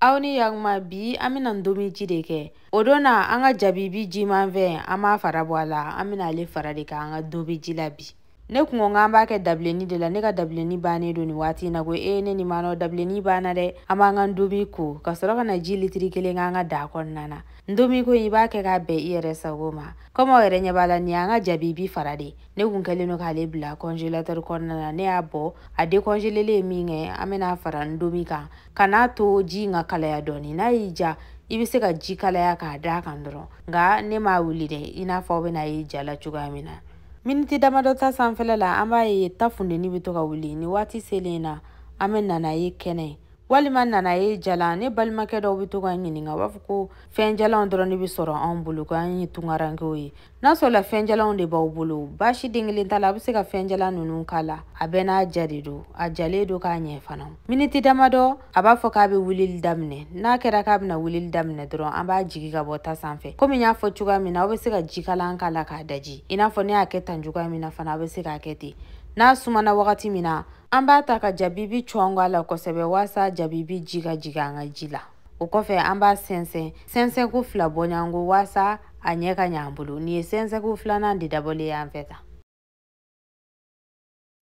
aw ni yakuma bi an bɛna ntomi ji de kɛ o don na an ka jabibi jimanfɛn an b'a fara bɔ a la an bɛna ale fara de kɛ an ka ndomi ji la bi ne kun ko k'an b'a kɛ dabilenni de la ne ka dabilenni bannen don nin waati in na ko ee ne nin m'a dɔn dabilenni banna dɛ an b'an ka ndomi ko ka sɔrɔ ka na ji litiri kelen k'an ka daa kɔnɔna na ndomi ko in i b'a kɛ k'a bɛn i yɛrɛ sago ma kɔmi aw yɛrɛ ɲɛ b'a la nin y'an ka jabibi fara de ne kun kɛlen don k'ale bila kɔnjelatɛri kɔnɔna na ne y'a bɔ a dekɔnjelelen ye min kɛ an bɛna fara ndomi kan ka n'a to ji in ka kalaya dɔɔni n'a y'i ja i bɛ se ka ji kalaya k'a d'a kan dɔrɔn nka ne m'a wuli dɛ i n'a fɔ aw bɛna ye ja la cogoya min na miniti damadɔ ta sanfɛla la an b'a ye ta funteni bɛ to ka wuli ni waati selen na an bɛ nanaye kɛnɛ walima nanaye jalan ne balimakɛ dɔw bɛ to ka ɲininka u b'a fɔ ko fɛn jalanw dɔrɔn de bɛ sɔrɔ anw bolo ko an ye tunkarankew ye n'a sɔrɔla fɛnjalanw de b'aw bolo baasi den kelen t'a la aw bɛ se ka fɛnjalan ninnu k'a la a bɛɛ n'a ja de don a jalen don ka ɲɛ fana miniti damadɔ a b'a fɔ k'a bɛ wulili daminɛ n'a kɛra k'a bɛna wulili daminɛ dɔrɔn an b'a jigi ka bɔ ta sanfɛ komi n y'a fɔ cogoya min na aw bɛ se ka jikalan k'a la k'a daji i n'a fɔ ne y'a kɛ tan cogoya min na fana aw bɛ se k'a kɛ ten n'a sumana wagati min na an b'a ta ka jabibi cɔngɔ a la kosɛbɛ walasa jabibi ji ka jigin an ka ji la o kɔfɛ an b'a sɛnsɛn sɛnsɛnko fila bɔɲɔgɔnko waasa a ɲɛ ka ɲɛ an bolo nin ye sɛnsɛnko filanan de dabɔlen y'an fɛ tan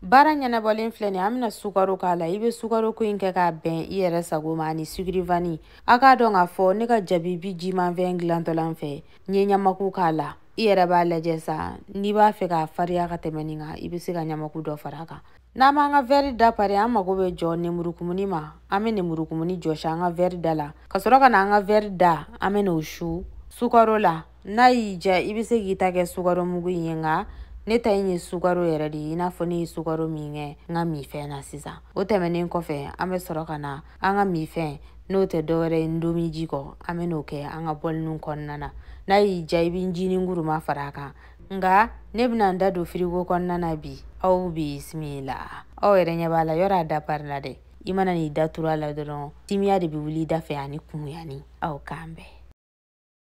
baara ɲɛnabɔlen filɛ nin an bɛna sukaro k'a la i bɛ sukaro ko in kɛ k'a bɛn i yɛrɛ sago ma ani sugurivani a k'a dɔn k'a fɔ ne ka jabibi jimanfɛn dilantɔ la n fɛ n ye ɲamaku k'a la i yɛrɛ b'a lajɛ sa n'i b'a fɛ k'a fariya ka tɛmɛ nin kan i bɛ se ka ɲamaku dɔ fara a kan n'an b'an ka wɛri da pari an mago bɛ jɔ nemurukumuni ma an bɛ nemurukumuni jɔsi an ka wɛri da la ka sɔrɔ ka na an ka wɛri da an bɛ n'o su sukaro la n'a y'i ja i bɛ se k'i ta kɛ sukaro mugu in ye nka ne ta in ye sukaro yɛrɛ de ye i n'a fɔ ne ye sukaro min kɛ n ka minfɛn na sisan o tɛmɛnen kɔfɛ an bɛ sɔrɔ ka na an ka minfɛn n'o tɛ dɔwɛrɛ ye ndomiji kɔ an bɛ n'o kɛ an ka bɔliniw kɔnɔna na n'a y'i ja i bɛ jinin kuruma fara a kan nka ne bɛna n ta don firigo kɔnɔna na bi aw bisimila aw yɛrɛ ɲɛ b'a la yɔrɔ a da parila dɛ i mana n'i da turu a la dɔrɔn timiya de bɛ wuli i da fɛ ani kumuyani aw k'an bɛn